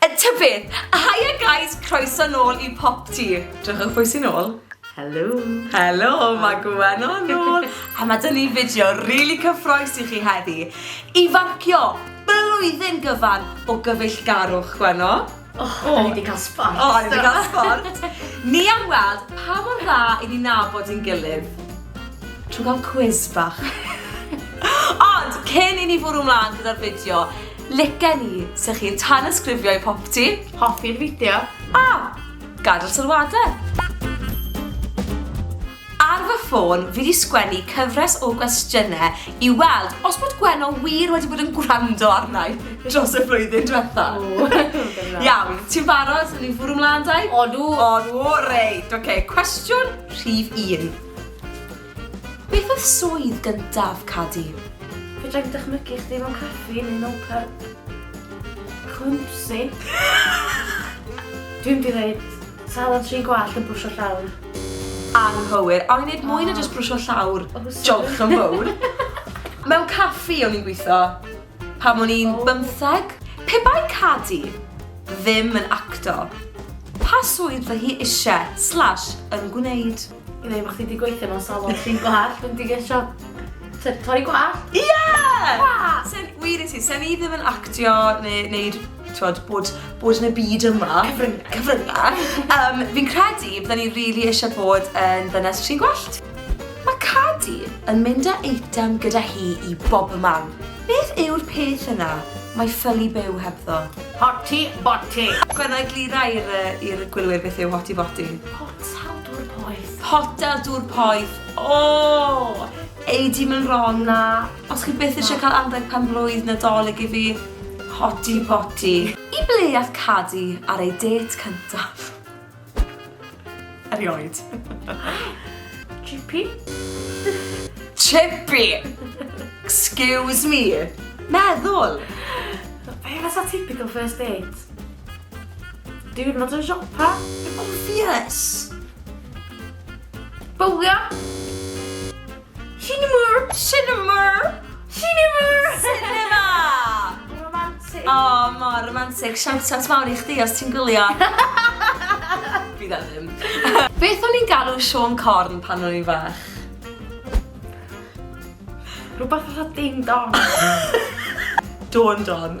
Yy ta beth! Haia guys, croeso nôl i Popty! Drychwch pwy sy nôl? Helo! Helo, mae Gwen o nôl! A mae dyn ni fideo rili cyffroes i chi heddi. Ifancio! Blwyddyn gyfan o gyfeillgarwch, Gwenno! O, o'n ni wedi cael sbort! O, o'n ni wedi cael sbort! Ni am weld pa mor dda i ni nabod i'n gilydd trwy gael cwis bach. Ond, cyn i ni fwrw mlaen gyda'r fideo, Like ni 'se chi'n tanysgrifio i popty. Hoffi'r fideo. A! Gadael sylwadau! Ar fy ffôn fi 'di sgwennu cyfres o gwestiynau i weld os bod Gwenno wir wedi bod yn gwrando arnau dros y flwyddyn diwetha. Iawn, ti'n barod? Swn i'n fwrw mlaen dau? Odw! Odw, reit, oce. Cwestiwn rhif un. Beth oedd swydd gyntaf Cadi? Fedra i'm dychmygu chdi mewn caffi neu mewn pyb. Clumsy. Dwi mynd i ddeud salad tri gwallt yn brwsio llawr. Anghywir. O'n i'n neud mwy na jyst brwsio llawr. O, sori. Jolch yn fowr. Mewn caffi o'n i'n gwitho pan o'n i'n bymtheg. Pe bai Cadi ddim yn acto, pa swydd fy hi isie slash yn gwneud? I ddweud bod chdi wedi gweithio mewn salon trin gwallt, dwi'n digwydd siop. Sef torri gwallt? Ie! Yeah! Sen, wir i ti, sen i ddim yn actio neu wneud twod, bod, bod yn y byd yma. Cyfryngau. Cyfryngau. um, fi'n credu bydden ni really eisiau bod yn ddynes tri gwallt. Mae Cadi yn mynd â eitem gyda hi i bob man. Beth yw'r peth yna? Mae ffylu byw hebddo. Hoti boti. Gwenna eglura i'r gwylwyr beth yw hoti boti. Hotel Dŵr Poeth. Hotel Dŵr Poeth. O! Ei di mynd wrong na. Os chi byth eisiau cael anrheg pen blwydd Nadolig i fi, hoti boti. I ble ath Cadi ar ei dêt cyntaf? Erioed. Chippy? Chippy! Excuse me! Meddwl! Be fysa typical first date? Diwrnod yn siopa. Obvious! Bowlio. Sinemur! Sinemur! Sinemur! Cinema! Romantic. O, mor romantic. Siawt at mawr i chdi os ti'n gwylio. Fi dda ddim. Beth o'n i'n galw Sean Corn pan o'n i'n fach? Rhywbeth fatha ding dong. Dawn Don.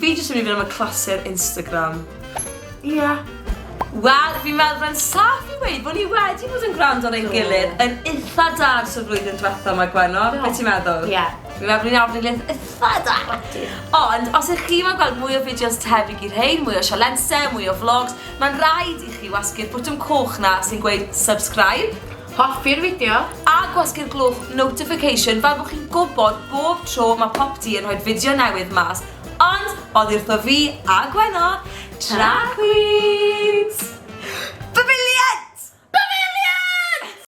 Fi jyst yn mynd i fynd am y clasur Instagram. Ie. Wel, fi'n meddwl fe'n saff i weud bod ni wedi bod yn gwrando ar ein gilydd yn eitha da ers y flwyddyn diwetha yma, Gwenno. Be ti'n meddwl? Ie. Fi'n meddwl bod ni'n arfer gilydd eitha da. Ond, os ych chi mo'n gweld mwy o fideos tebyg i'r rhein, mwy o sialense, mwy o vlogs, mae'n rhaid i chi wasgu'r bwtwm coch na sy'n gweud subscribe. Hoffi'r fideo? A gwasgu'r glwch notification fel bod chi'n gwybod bob tro mae Popty yn rhoi fideo newydd mas. Ond, oddi wrtho fi a Gwenno, Tra Queens!